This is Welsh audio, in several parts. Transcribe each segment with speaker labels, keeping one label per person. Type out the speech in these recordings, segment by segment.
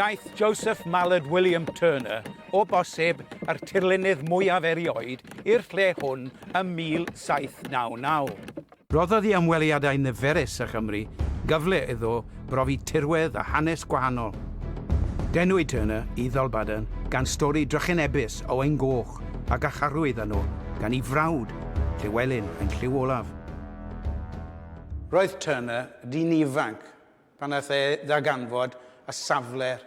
Speaker 1: Daeth Joseph Mallard William Turner o bosib yr tirlunydd mwyaf erioed i'r lle hwn ym 1799. Rhoddodd i ymweliadau niferus â Chymru gyfle iddo brofi tirwedd a hanes gwahanol. Denwyd Turner i Ddalbaden gan stori drychinebus Owain Goch a garcharwyd arno gan ei frawd, Llewelyn, yn Lliw Olaf. Roedd Turner yn ddyn ifanc pan aeth e ddarganfod y safle'r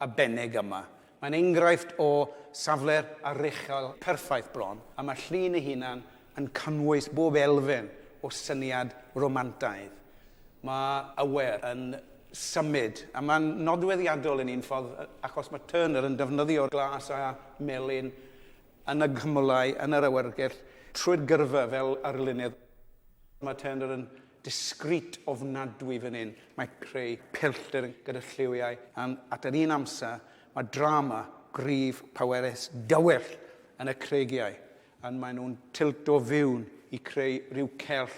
Speaker 1: arbennig yma. Mae'n enghraifft o safle'r aruchel perffaith bron, a mae'r llun ei hunan yn cynnwys bob elfen o syniad romantaidd. Mae awyr yn symud, a mae'n nodweddiadol yn un ffordd achos mae Turner yn defnyddio glas a melyn yn y gymylau, yn yr awyrgell, trwy'r gyrfa fel arlunydd. Mae Turner yn discreet ofnadwy fan hyn. Mae creu pellter gyda lliwiau and at yr un amser mae drama gryf powerus dywyll yn y creigiau and maen nhw'n tilto fewn i creu rhyw cell.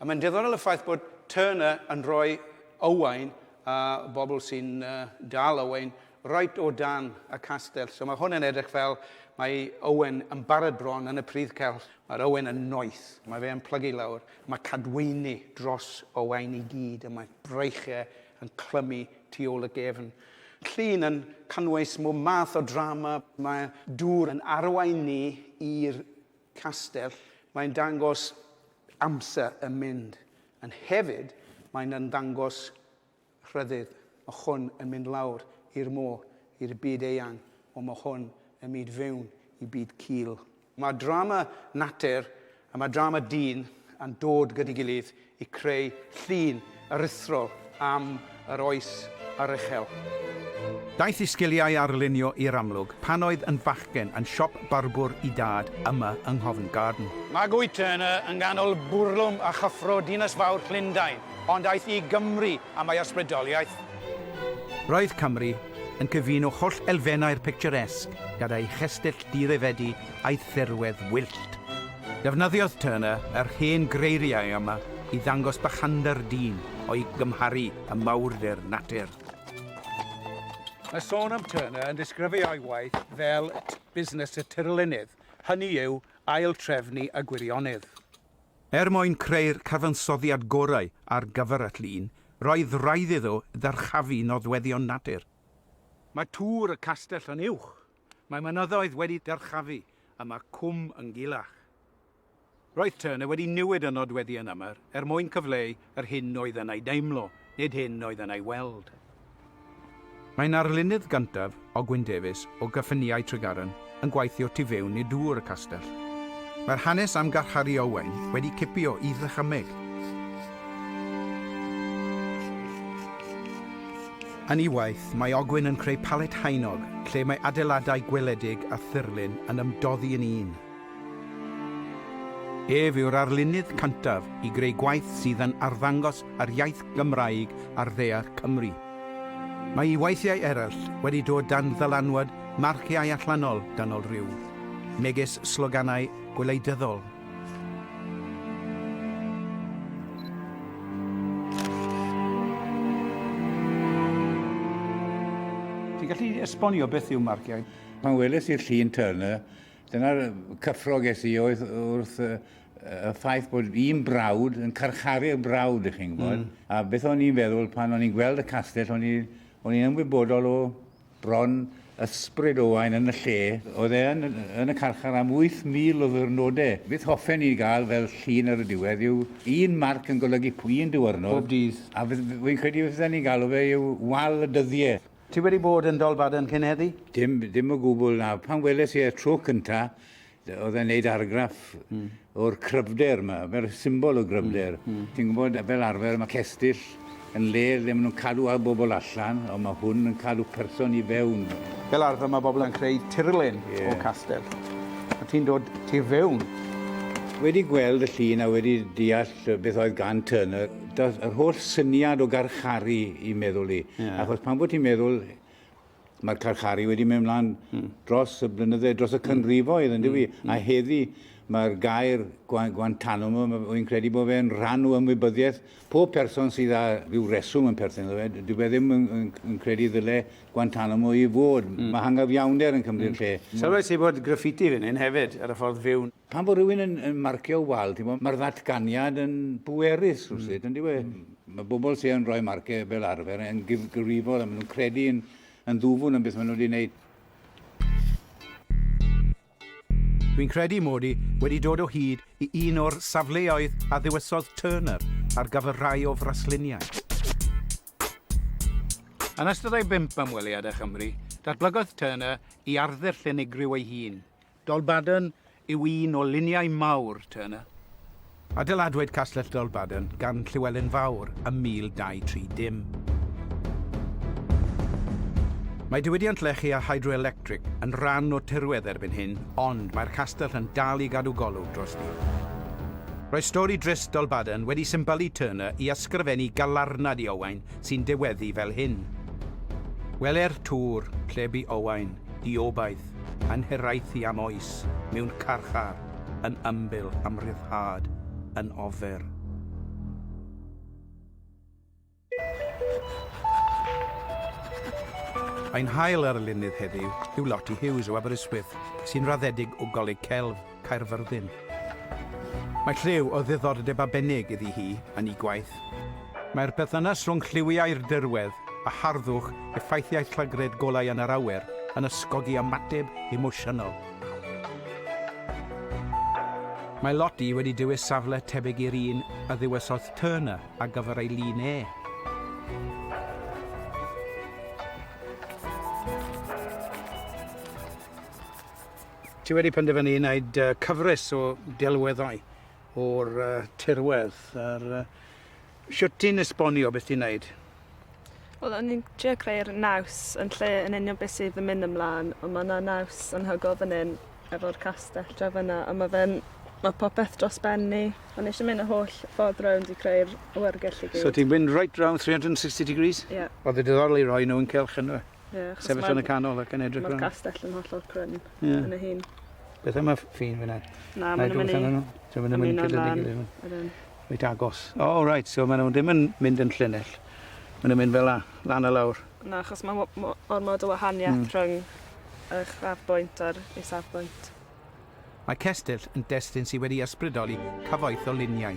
Speaker 1: A mae'n diddorol y ffaith bod Turner yn rhoi Owain a bobl sy'n dal Owain reit o dan y castell. So mae hwn yn edrych fel mae Owen yn barod bron yn y pridd celf. Mae'r Owen yn noeth. Mae fe yn plygu lawr. Mae cadwyni dros Owain i gyd a mae breichiau yn clymu tu ôl y gefn. Llun yn cynnwys mwy math o drama. Mae dŵr yn arwain ni i'r castell. Mae'n dangos amser yn mynd. Yn hefyd, mae'n ymddangos rhyddid, ma hwn yn mynd lawr i'r môr, i'r byd eang, ond ma hwn yn myd fewn i byd cul. Mae drama natur a mae drama dyn yn dod gyda'i gilydd i creu llun aruthrol am yr oes a'r uchel. Daeth i sgiliau arlunio i'r amlwg pan oedd yn fachgen yn siop barbwr i dad yma yng Nghofn Garden. Mae Guy Turner yng nghanol bwrlwm a chyffro dinas fawr Llundain. Ond aeth i Gymru am ei ysbrydoliaeth. Roedd Cymru yn cyfuno holl elfennau'r picturesque gyda'i chestyll dirifedi a'i thirwedd wyllt. Defnyddiodd Turner yr hen greiriau yma i ddangos bychander dyn o'i gymharu â mawrder natur. Mae sôn am Turner yn disgrifio ei waith fel busnes y tirlunydd, hynny yw, ail-drefnu y gwirionedd. Er mwyn creu'r cyfansoddiad gorau ar gyfer y llun, roedd raid iddo ddyrchafu nodweddion natur. Mae tŵr y castell yn uwch, mae mynyddoedd wedi dyrchafu a mae cwm yn gulach. Roedd Turner wedi newid y nodweddion yma er mwyn cyfleu yr hyn oedd yn ei deimlo, nid hyn oedd yn ei weld. Mae'n arlunydd gyntaf Ogwyn Davies o Gyffiniau Tregaron yn gweithio tu fewn i dŵr y castell. Mae'r hanes am garcharu Owain wedi cipio i ddychymyg. Yn ei waith, mae Ogwyn yn creu palet haenog lle mae adeiladau gweledig a thirlun yn ymdoddi yn un. Ef yw'r arlunydd cyntaf i greu gwaith sydd yn arddangos yr iaith Gymraeg ar ddaear Cymru. Mae ei weithiau eraill wedi dod dan ddylanwad marciau allanol dynol rhyw, megis sloganau gwleidyddol. Ti'n gallu esbonio beth yw marciau? Pan weles i'r
Speaker 2: llun Turner, Dyna'r cyffro ges i oedd wrth y, y ffaith bod un brawd yn carcharu'r brawd, ych chi'n gwybod. Mm. A beth o'n i'n feddwl pan o'n i'n gweld y castell, o'n i'n ymwybodol o bron ysbryd Owain yn y lle. Oedd e yn, yn y carchar am 8,000 o ddwrnodau. Beth hoffen ni gael fel llun ar y diwedd yw un marc yn golygu un diwrnod. Pob dydd. A
Speaker 1: fi'n credu
Speaker 2: fydden ni'n galw fe yw wal y dyddiau. Ti wedi bod yn
Speaker 1: Dolbaden cyn heddi? Dim, dim o gwbl
Speaker 2: na. Pan weles i e tro cynta, oedd e'n neud argraff mm. o'r cryfder yma, fel symbol o gryfder. Mm. Mm. Ti'n gwybod, fel arfer, mae cestyll yn le lle maen nhw'n cadw ar bobl allan, ond mae hwn yn cadw person i fewn. Fel arfer mae bobl
Speaker 1: yn creu tirlen yeah. o castell. A ti'n dod ti fewn. Wedi
Speaker 2: gweld y llun a wedi deall beth oedd gan Turner, Doedd yr holl syniad o garcharu i meddwl i. Yeah. Achos pan bod ti'n meddwl, mae'r carcharu wedi mynd mlaen mm. dros y blynydde, dros y cynrifoedd, yn dywi? Mm. A heddi, mae'r gair Guantanamo, wy'n credu bod fe'n rhan o ymwybyddiaeth pob person sydd â rhyw reswm yn perthyn iddo fe. Dwi e ddim yn, yn, yn credu ddyle Guantanamo i fod. Mm. Mae hangyfiawnder yn cymryd mm. lle. Sylwes i bod graffiti
Speaker 1: fan hyn hefyd, ar y ffordd fyw. Pan fo rhywun yn yn
Speaker 2: marcio wal ti'n gwbod ma'r ddatganiad yn bwerus rywsut yndyw e? Ma' bobl sy yn rhoi marciau fel arfer yn gyfrifol a ma' nhw'n credu yn yn ddwfwn yn beth ma' nhw 'di neud.
Speaker 1: Dwi'n credu mod i wedi dod o hyd i un o'r safleoedd a ddewisodd Turner ar gyfer rhai o frasluniau. Yn ystod ei bump ymweliad â Chymru, datblygodd Turner i arddull unigryw ei hun, Dolbadarn yw un o luniau mawr Turner. Adeiladwyd Castell Dolbadarn gan Llywelyn Fawr ym 1230. Mae diwydiant lechi a hydroelectric yn rhan o tirwedd erbyn hyn ond mae'r castell yn dal i gadw golwg drosti. Roedd stori drist Dolbadarn wedi symbylu Turner i ysgrifennu galarnad i Owain sy'n diweddu fel hyn, Gweler tŵr lle bu Owain, diobaith, yn hiraethu am oes mewn carchar yn ymbil am ryddhad yn ofer. Ein hail arlunydd heddiw yw Lottie Hughes o Aberystwyth, sy'n raddedig o Goleg Celf. Caerfyrddin. Mae lliw o ddiddordeb arbennig iddi hi yn ei gwaith. Mae'r perthynas rhwng lliwiau'r dirwedd a harddwch effeithiau llygredd golau yn yr awyr yn ysgogi ymateb emosiynol. Mae Lottie wedi dewis safle tebyg i'r un a ddewisodd Turner ar gyfer ei lun e. Ti wedi penderfynu i wneud uh, cyfres o delweddau o'r uh, tirwedd. A'r, uh, siwt ti'n esbonio beth ti'n wneud? Wel,
Speaker 3: o'n i'n trio creu'r naws yn lle yn union beth sydd yn mynd ymlaen, ond mae yna naws anhygol fan hyn efo'r castell dra fyna, a mae fe'n Mae popeth dros ben ni. O'n eisiau mynd y holl ffordd rownd i creu'r awyrgell i gyd. So ti'n mynd right round
Speaker 1: 360 degrees? Ie. Yeah. Oedd y diddorol i
Speaker 3: roi
Speaker 1: nhw'n celch yn nhw? Ie, achos Sefyll yn y
Speaker 3: canol ac
Speaker 1: yn edrych Mae'r castell yn hollol
Speaker 3: cryn yeah. yn y hun. Beth am y
Speaker 1: ffin fyna? Na, mae'n
Speaker 3: mynd i... Dwi'n mynd i mynd i gyda'n Reit agos.
Speaker 1: O, oh, right, so maen nhw ddim yn mynd yn llinell. Maen nhw'n mynd fel la, lan a lawr. Na, achos mae
Speaker 3: ormod o wahaniaeth mm. rhwng y chrafbwynt a'r isafbwynt. Mae
Speaker 1: cestyll yn destun sydd wedi ysbrydoli cyfoeth o luniau.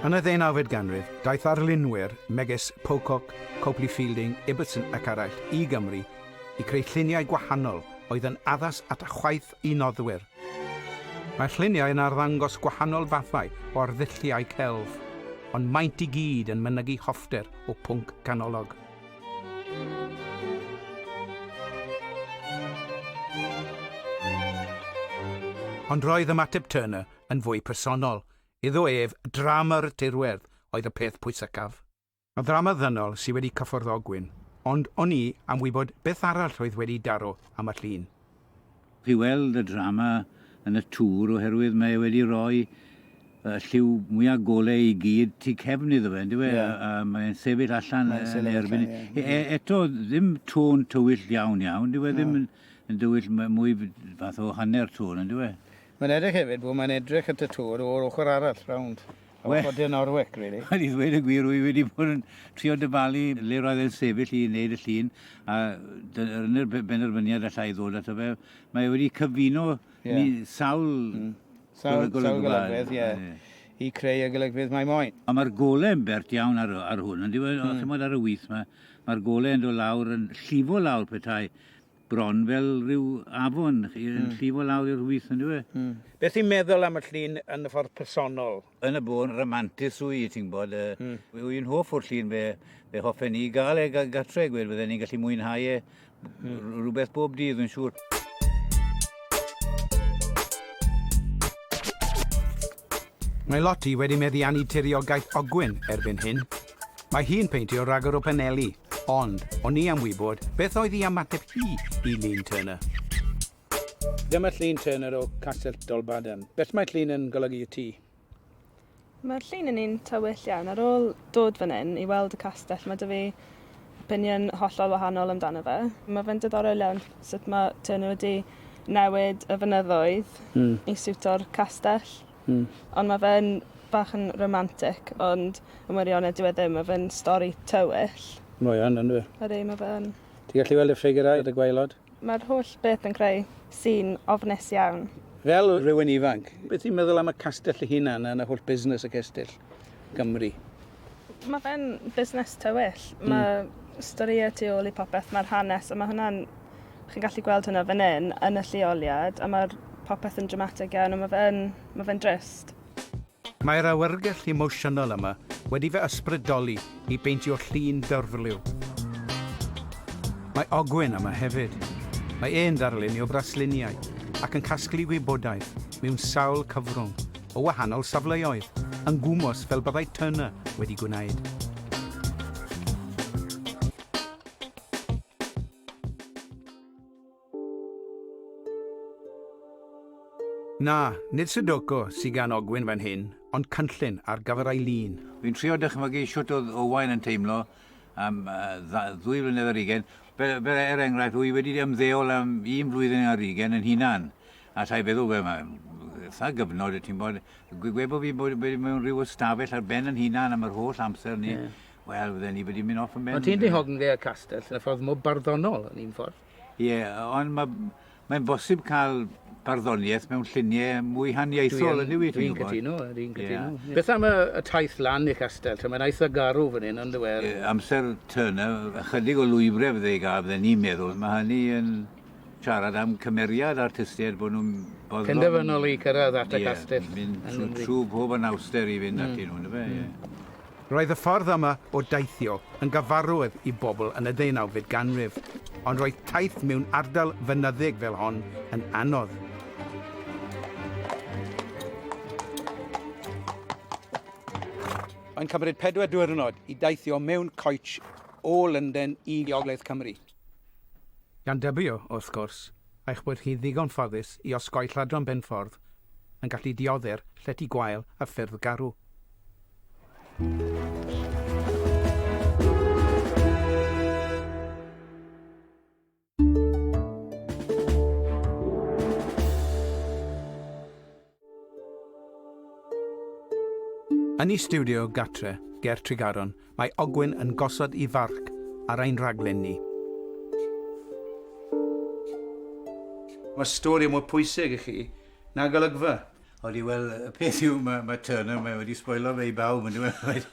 Speaker 1: Yn y ddeunawfed ganrif, daeth arlunwyr megis Pocock, Copley Fielding, Ibbotson ac eraill i Gymru i creu lluniau gwahanol oedd yn addas at chwaeth i noddwyr. Mae'r lluniau yn arddangos gwahanol fathau o arddulliau celf, ond maent i gyd yn mynygu hoffter o pwnc canolog. Ond roedd ymateb Turner yn fwy personol. Iddo ef, drama'r tirwedd oedd y peth pwysicaf. Mae ddrama ddynol sydd wedi cyffwrdd Ogwyn, ond o'n i am wybod beth arall oedd wedi daro am y llun. i
Speaker 2: weld y drama yn y tŵr oherwydd mae e wedi rhoi y lliw mwyaf golau i gyd tu cefn iddo fe, yndyw e? Yeah. A, a mae'n sefyll allan yn erbyn... Yeah. E, eto, ddim tôn tywyll iawn iawn, dyw e ddim yn, yn dywyll mwy fath o hanner tôn, yndyw e? Mae'n edrych hefyd
Speaker 1: bod mae'n edrych at y tŵr o'r ochr arall, rownd. Wel... Ochr De Norwich rili. Wel i ddweud y gwir rwy
Speaker 2: wedi bod yn trio dyfalu le roedd e'n sefyll i wneud y llun a dy- dyna'r be- benderfyniad alla i ddod ato fe. Mae e wedi cyfuno... Ie. ...ni- sawl... Mm. Sawl... ...golygfa. ...sawl
Speaker 1: golygfeydd ie. Ie. ...i creu y golygfeydd mae moyn. A ma'r gole'n bert
Speaker 2: iawn ar y- ar hwn yndyw e? Hmm. Ch'mod ar y with 'ma ma'r gole yn do' lawr yn llifo lawr petai bron fel rhyw afon yn llifo lawr i'r wyth yndyw e? Mm. Beth ti'n meddwl
Speaker 1: am y llun yn y ffordd personol? Yn y bôn,
Speaker 2: ramantus yw i, ti'n gwybod. Mm. Yw i'n hoff o'r llun, fe, fe hoffen ni gael e gartre, gwed, fydden ni'n gallu mwynhau e mm. rhywbeth bob dydd, yn siŵr.
Speaker 1: Mae Lottie wedi meddiannu tiriogaeth Ogwyn erbyn hyn, Mae hi'n peintio rhagor o paneli, ond o'n i am wybod beth oedd i ymateb hi i Llun Turner. Dyma Llun Turner o Castell Dolbadarn. Beth mae llun yn golygu i ti?
Speaker 3: Mae'r llun yn un tywyll iawn. Ar ôl dod fan hyn i weld y castell, mae 'da fi opinion hollol wahanol amdano fe. Mae fe'n diddorol iawn sut mae Turner wedi newid y fynyddoedd... Mm. ...i siwto'r castell. Hmm. Ond ma fe'n bach yn romantic ond yn wirionedd dyw e ddim, ma fe'n stori tywyll. Mae yn yndyw e?
Speaker 1: Ydi, ma fe yn.
Speaker 3: Ti'n gallu weld y ffigurau
Speaker 1: yn y gwaelod? Mae'r holl beth
Speaker 3: yn creu sîn ofnus iawn. Fel rhywun
Speaker 1: ifanc, beth ti'n meddwl am y castell ei hunan a holl busnes y cestyll? Cymru. Mae
Speaker 3: fe'n busnes tywyll. Mm. Mae storïau tu ôl i popeth, mae'r hanes, a mae hwnna'n... Chi'n gallu gweld hwnna fan hyn, yn y lleoliad, a mae'r popeth yn dramatig iawn, a mae fe'n ma fe drist. Mae'r
Speaker 1: awyrgylch emosiynol yma wedi fy ysbrydoli i beintio llun dyrfliw. Mae Ogwyn yma hefyd. Mae e'n ddarlunio brasluniau ac yn casglu gwybodaeth mewn sawl cyfrwng, o wahanol safleoedd, yn gwmws fel byddai Turner wedi gwneud. Na, nid Sudoku sy gan Ogwyn fan hyn, ond cynllun ar gyfer Eileen. Fi'n trio dychmygu
Speaker 2: shwt oedd Owain yn teimlo am ddwy flynedd ar ugain. Fel, er enghraifft, wy wedi ymddeol am un flwyddyn ar ugain yn hunan. Alla i feddwl, wel, mae eitha gyfnod, y ti'n bod, gwe bod fi'n bod mewn rhyw ystafell ar ben yn hunan am yr holl amser ni, yeah. wel, fydden ni wedi mynd off yn ben. Ond ti'n dihogn dde y
Speaker 1: castell, yn y ffordd mwy barddonol yn un ffordd. Ie, yeah, ond mae
Speaker 2: mae'n bosib cael barddoniaeth mewn lluniau mwy haniaethol yn newid. Dwi'n cytuno, dwi'n cytuno. Yeah.
Speaker 1: Beth am y, y taith lan i'r castell? Mae'n eitha garw fan hyn, ond dweud. E? Amser Turner,
Speaker 2: ychydig o lwybrau fydde i gael, fydde ni'n meddwl. Mae hynny yn siarad am cymeriad artistiaid bod nhw'n boddlon... Penderfynol i cyrraedd
Speaker 1: at y castell. Ie, mynd trwy, trwy
Speaker 2: pob anawster i fynd mm. atyn nhw, fe, ie. Mm. Roedd y
Speaker 1: ffordd yma o deithio yn gyfarwydd i bobl yn y ddeunawfed ganrif, ond roedd taith mewn ardal fynyddig fel hon yn anodd. Mae'n cymryd pedwar diwrnod i deithio mewn coetsh o Lundain i Ogledd Cymru. Gan dybio, wrth gwrs, eich bod chi ddigon ffodus i osgoi lladron benffordd yn gallu diodde'r llety gwael a ffyrdd garw. Yn ei stiwdio gartre ger Tregaron, mae Ogwyn yn gosod i farc ar ein rhaglen ni. Mae stori mwy pwysig i chi na golygfa. Odi, wel,
Speaker 2: y peth yw, mae, mae Turner, mae wedi sboilo fe i bawb, yn dweud,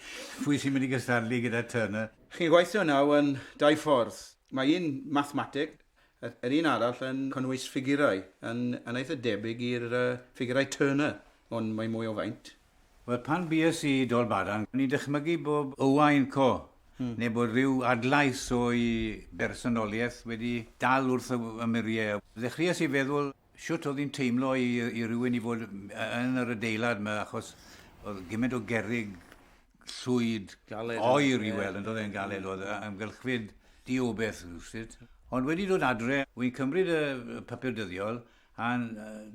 Speaker 2: pwy sy'n mynd i gystadlu gyda Turner? Chi'n gweithio nawr
Speaker 1: yn dau ffordd. Mae un mathemateg, Yr un arall yn cynnwys ffigurau yn yn eitha debyg i'r ffigurau Turner, ond mae mwy o faint. Wel, pan
Speaker 2: bues i Dolbadarn, o'n i'n dychmygu bod Owain Co neu bod rhyw adlais o'i bersonoliaeth wedi dal wrth fy ymyriau. Ddechreuais i feddwl shwt oedd hi'n teimlo i i rywun i fod yn yr adeilad 'ma achos oedd gymaint o gerrig llwyd galed oer i weld, yn dod e'n galed oedd amgylchfyd di o beth rhywsut. Ond wedi dod adre, wy'n cymryd y papur dyddiol, a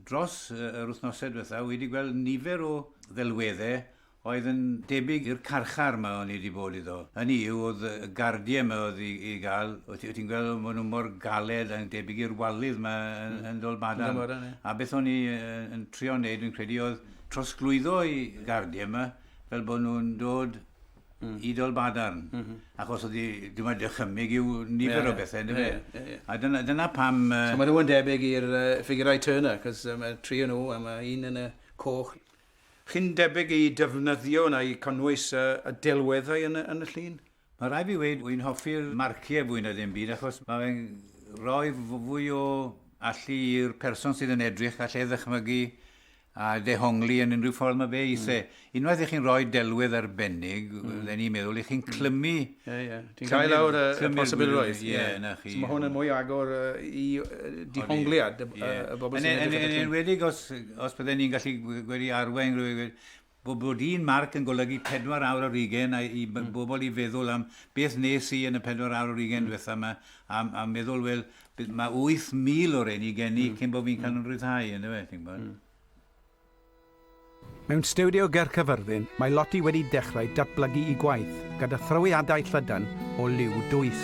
Speaker 2: dros yr wythnosau diwethaf wedi gweld nifer o ddelweddau oedd yn debyg i'r carchar yma o'n i wedi bod iddo. Hynny yw, oedd y gardiau yma oedd i, i gael, o ti'n gweld maen nhw mor galed a'n debyg i'r walydd yma yn, yn Dolbadan. A beth o'n i yn trio wneud, yn credu, oedd trosglwyddo i gardiau yma, fel bod nhw'n dod i Dolbadarn, achos oedd hi, dyma dychymyg yw nifer o bethau, yndyfe? Ie, ie, ie. A dyna, dyna pam... So maen nhw yn debyg
Speaker 1: i'r ffigurau Turner, achos mae tri o nhw, a mae un yn y coch. Chi'n debyg i defnyddio neu cynnwys y delweddau yn y llun? Mae rhaid fi weud,
Speaker 2: wy'n hoffi'r marciau fwy na dim byd achos mae fe'n rhoi fwy o allu i'r person sydd yn edrych a lle ddychmygu a dehongli yn unrhyw ffordd mae fe eisiau. Mm. Unwaith i chi'n rhoi delwedd arbennig, mm. fydden i'n meddwl, i chi'n clymu... Ie, ie. Ti'n cael
Speaker 1: lawr y, y posibilrwydd. Ie, yeah, na chi. So mae hwn
Speaker 2: yn mwy agor
Speaker 1: uh, i uh, dihongliad y, yeah. y bobl sy'n edrych at Yn enwedig os,
Speaker 2: os bydden ni'n gallu gwedi arwain rhywun, Bo bod un marc yn golygu pedwar awr ar ugain a i bobl i feddwl am beth nes i yn y pedwar awr ar ugain dwetha ma a a meddwl wel by- ma wyth mil o reini gen i cyn bo fi'n cael yn rhyddhau yndyw e ti'n gwbod.
Speaker 1: Mewn stiwdio ger Cyfyrddin mae Lottie wedi dechrau datblygu i gwaith gyda thrawiadau llydan o liw dwys.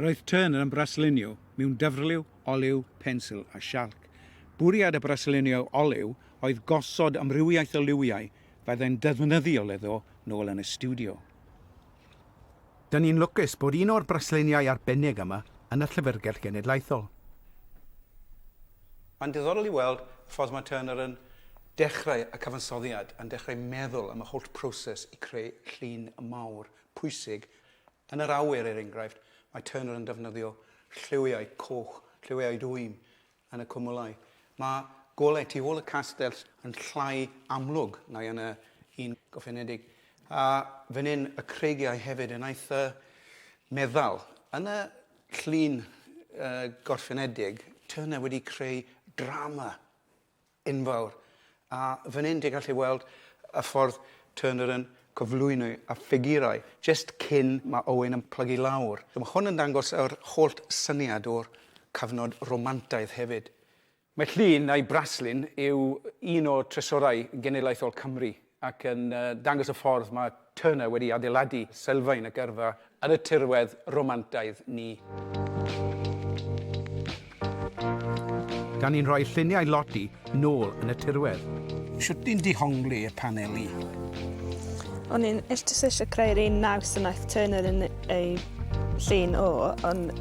Speaker 1: Roedd Turner yn braslunio mewn dyfrliw, oliw, pensil a sialc. Bwriad y braslunio oliw oedd gosod amrywiaeth o liwiau fyddai'n ddefnyddiol iddo nôl yn y stiwdio. Dyn ni'n lwcus bod un o'r brasluniau arbennig yma yn y Llyfrgell Genedlaethol. Mae'n diddorol i weld y ffordd mae Turner yn dechrau y cyfansoddiad, yn dechrau meddwl am y holl proses i creu llun mawr pwysig. Yn yr awyr, er enghraifft, mae Turner yn defnyddio lliwiau coch, lliwiau dwym yn y cwmwlau. Mae golau tu ôl y castell yn llai amlwg neu yn y un gofynedig. A fan hyn, y creigiau hefyd yn eitha meddal. Yn y llun gorffenedig, Turner wedi creu drama enfawr. A fan hyn ti'n gallu weld y ffordd Turner yn cyflwyno y ffigurau jyst cyn mae Owen yn plygu lawr. Mae hwn yn dangos yr holl syniad o'r cyfnod Romantaidd hefyd. Mae llun a'i braslun yw un o trysorau genedlaethol Cymru. ac yn dangos y ffordd mae Turner wedi adeiladu sylfaen y gyrfa yn y tirwedd romantaidd ni. gan ni'n rhoi lluniau Lottie nôl yn y tirwedd. Shwt ni'n dihongli y paneli?
Speaker 3: O'n i'n just eisiau creu'r un naws yna aeth Turner yn ei llun o, ond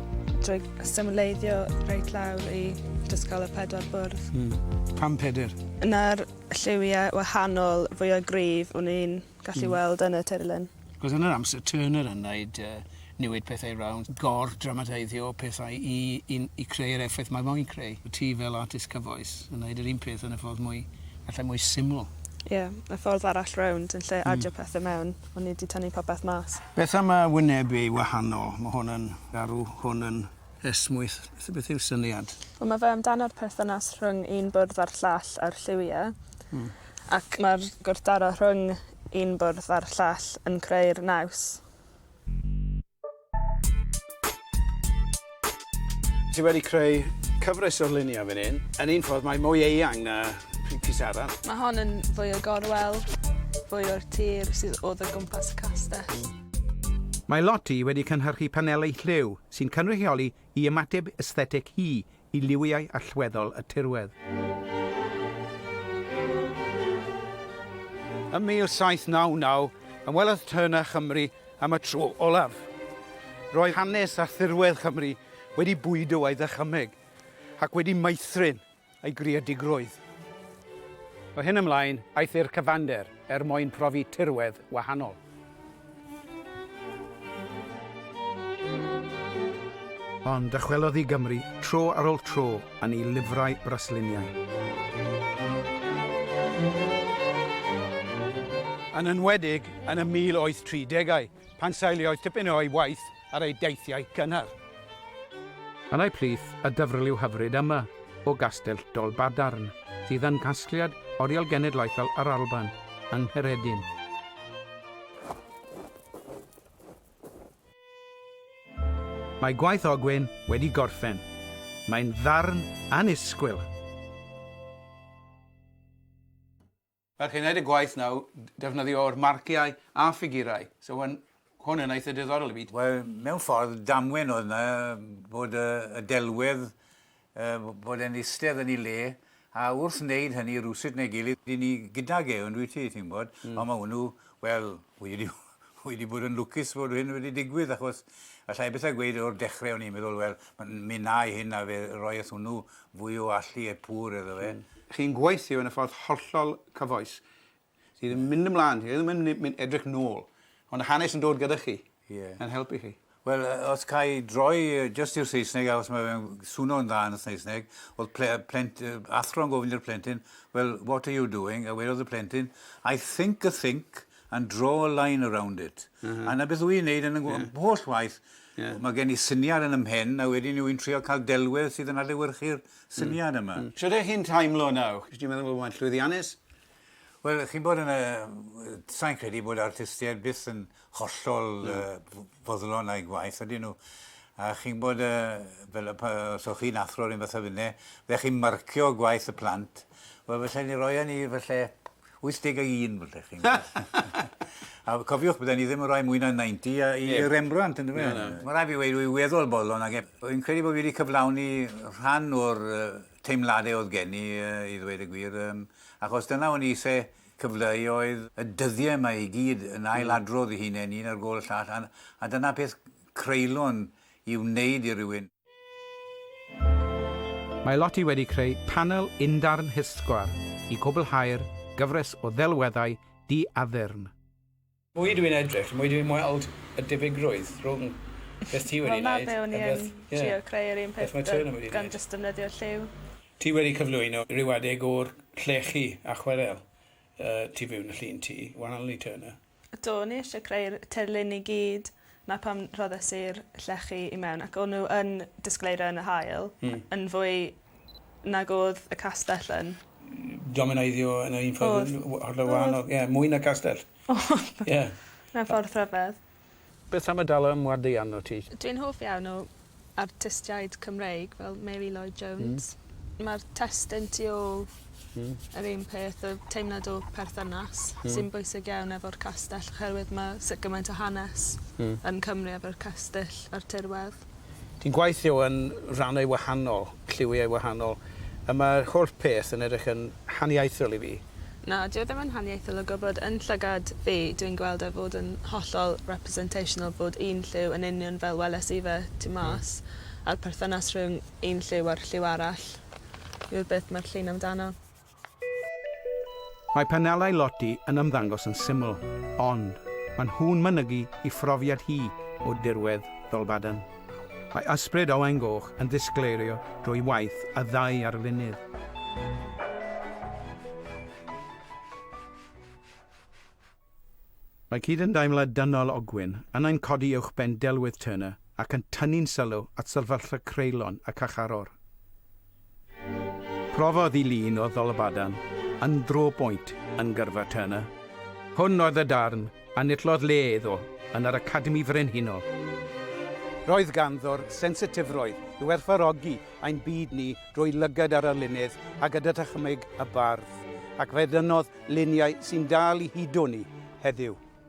Speaker 3: drwy symleiddio reit lawr i dysgol y pedwar bwrdd. Mm. Pam peder? Yna'r lliwiau wahanol fwya gryf o'n i'n gallu weld yn y tirlun. Achos yn yr amser
Speaker 1: Turner yn wneud yy newid pethau rownd, gor-dramatiseiddio pethau i i i creu yr effaith mae moyn creu. Ti fel artist cyfoes yn wneud yr un peth yn y ffordd mwy, efallai mwy syml. Ie,
Speaker 3: y ffordd arall rownd, yn lle adio pethau mewn, o'n i 'di tynnu popeth mas. Beth am y wynebu
Speaker 1: wahanol? Mae hwn yn garw, hwn yn... Esmwyth, beth yw'r syniad? Wel mae fe amdano'r
Speaker 3: perthynas rhwng un bwrdd a'r llall a'r lliwie. Hmm. Ac mae'r gwrthdaro rhwng un bwrdd a'r llall yn creu'r naws.
Speaker 1: Ti wedi creu cyfres o luniau fan hyn. Yn un ffordd mae mwy eang na pris arall. Mae hon yn fwy o
Speaker 3: gorwel, fwy o'r tir sydd oedd o gwmpas y castell. Mae
Speaker 1: Lottie wedi cynhyrchu paneli lliw sy'n cynrychioli i ymateb esthetig hi i liwiau allweddol y tirwedd. Ym 1799, ymwelodd Turner â Chymru am y tro olaf. Roedd hanes a thirwedd Chymru wedi bwydo ei ddychymyg, ac wedi meithrin ei greadigrwydd. O hyn ymlaen, aeth i'r cyfander er mwyn profi tirwedd wahanol. Ond dychwelodd i Gymru tro ar ôl tro yn ei lyfrau brasluniau. Yn enwedig yn y 1830au, pan seiliodd tipyn o'i waith ar ei deithiau cynnar. Allai plith y dyfrliw hyfryd yma o Gastell Dolbadarn, sydd yn Casgliad Oriel Genedlaethol yr Alban, yng Ngheredin, Mae gwaith Ogwyn wedi gorffen. Mae'n ddarn annisgwyl. Mae chi'n gwneud y gwaith nawr, defnyddio'r marciau a ffigurau, so mae'n... hwn yn eitha' diddorol i fi. Wel, mewn ffordd,
Speaker 2: damwen oedd 'na bod y y delwedd yy f- fod e'n istedd yn 'i le, a wrth wneud hynny rywsut neu gilydd 'yn ni gydag e, on'd wyt ti, ti'n gwbod? Hmm. Ond ma' hwnnw, wel, wedi ryw Wi 'di bod yn lwcus fod hyn wedi digwydd achos allai byth gweud o'r dechre o'n i'n meddwl wel mi wnâi hyn a fe roi wrth hwnnw fwy o allu e pur iddo fe. Chi'n gweithio yn y ffordd hollol cyfoes sydd yn mynd ymlan, chi ddim yn mynd edrych nôl ond y hanes yn dod gyda chi yn helpu chi. Wel, os ca i droi jyst i'r Saesneg, achos mae fe'n swno'n dda yn y Saesneg, oedd ple- yy plent- yy athro'n gofyn i'r plentyn, well, what are you doing? A wedodd y plentyn, I think a think and draw a line around it. A 'na beth wy'n neud yn y ngw-... Ie. ...holl waith. Ie. Mae gen i syniad yn 'y mhen, a wedyn wy'n trio cael delwedd sydd yn adlewyrchu'r syniad yma. Shwt 'ych chi'n teimlo nawr? Dwi meddwl bod hwnna'n llwyddiannus. Wel, chi'n bod yn y... Sa'n credu bod artistiaid byth yn hollol foddlon a'i gwaith, ydyn nhw? A chi'n bod, fel, os o'ch chi'n athro rhywun fatha finne, fe chi'n marcio gwaith y plant, wel, falle ni roi e ni, falle, 81, falle, chi'n gwybod. A cofiwch, bydden ni ddim yn rhoi mwy na 90 i Rembrandt, yn dyfe? Mae'n rhaid fi weud, dwi'n weddol boddlon ag e. Fi'n credu bod fi wedi cyflawni rhan o'r teimladau oedd gen i i ddweud y gwir yym achos dyna o'n i isie cyfleu oedd y dyddiau yma i gyd yn ail-adrodd i hunain un ar gôl y llall a a dyna peth creulon i wneud i rywun.
Speaker 1: Mae Lottie wedi creu panel undarn hysgwar i gwblhau'r gyfres o ddelweddau di-addurn. Mwy
Speaker 4: dwi'n edrych, y mwy dwi'n weld y difigrwydd rhwng beth ti wedi wneud a beth... Wel 'na be' o'n i yn trio
Speaker 3: creu yr un peth gan jyst defnyddio lliw. Ti wedi cyflwyno
Speaker 4: rhyw adeg o'r llechi a chwerel tu fewn y llun ti, One Only Turner. Do, o'n i isie
Speaker 3: creu'r tirlun i gyd. 'na pam rhoddes i'r llechi i mewn ac o'n n'w yn disgleiro yn yr haul yn fwy nag o'dd y castell yn. Domineiddio
Speaker 4: yn y un ffordd yn hollol wahanol ie mwy na castell. O'dd. Ie.
Speaker 3: Mewn ffordd rhyfedd. Beth am y Dala
Speaker 1: ym Mhwardeian wt ti? Dwi'n hoff iawn o
Speaker 3: artistiaid Cymreig fel Mary Lloyd Jones. Hmm. Ma'r testun tu ôl Hmm. yr un peth y teimlad o perthynas hmm. sy'n bwysig iawn efo'r castell oherwydd mae sut gymaint o hanes hmm. yn Cymru efo'r castell a'r tirwedd. Ti'n gweithio
Speaker 1: yn rannau wahanol, lliwiau wahanol, a mae'r holl peth yn edrych yn haniaethol i fi. Na, dyw e ddim yn
Speaker 3: haniaethol o gwybod. Yn llygad fi, dw i'n gweld e fod yn hollol representational bod un lliw yn union fel weles i fe tu mas, a'r perthynas rhwng un lliw a'r lliw arall yw'r beth mae'r llun amdano.
Speaker 1: Mae panelau Lottie yn ymddangos yn syml, ond mae nhw'n mynegi i phrofiad hi o dirwedd Dolbadarn. Mae ysbryd Owain Goch yn ddisgleirio drwy waith y ddau arlunydd. Mae cydymdeimlad dynol Ogwyn yn ein codi uwchben delwedd Turner ac yn tynnu'n sylw at sefyllfa creulon y carcharor. Profodd i lun o Ddolfadan yn Draw Point yn gyrfa Turner. Hwn oedd y darn a nillodd le iddo yn yr Academi Frenhinol. Roedd ganddo'r sensitifrwydd i werthfawrogi ein byd ni drwy lygad ar arlunydd a gyda dychymyg y bardd, ac fe dynnodd luniau sy'n dal i hudo ni heddiw.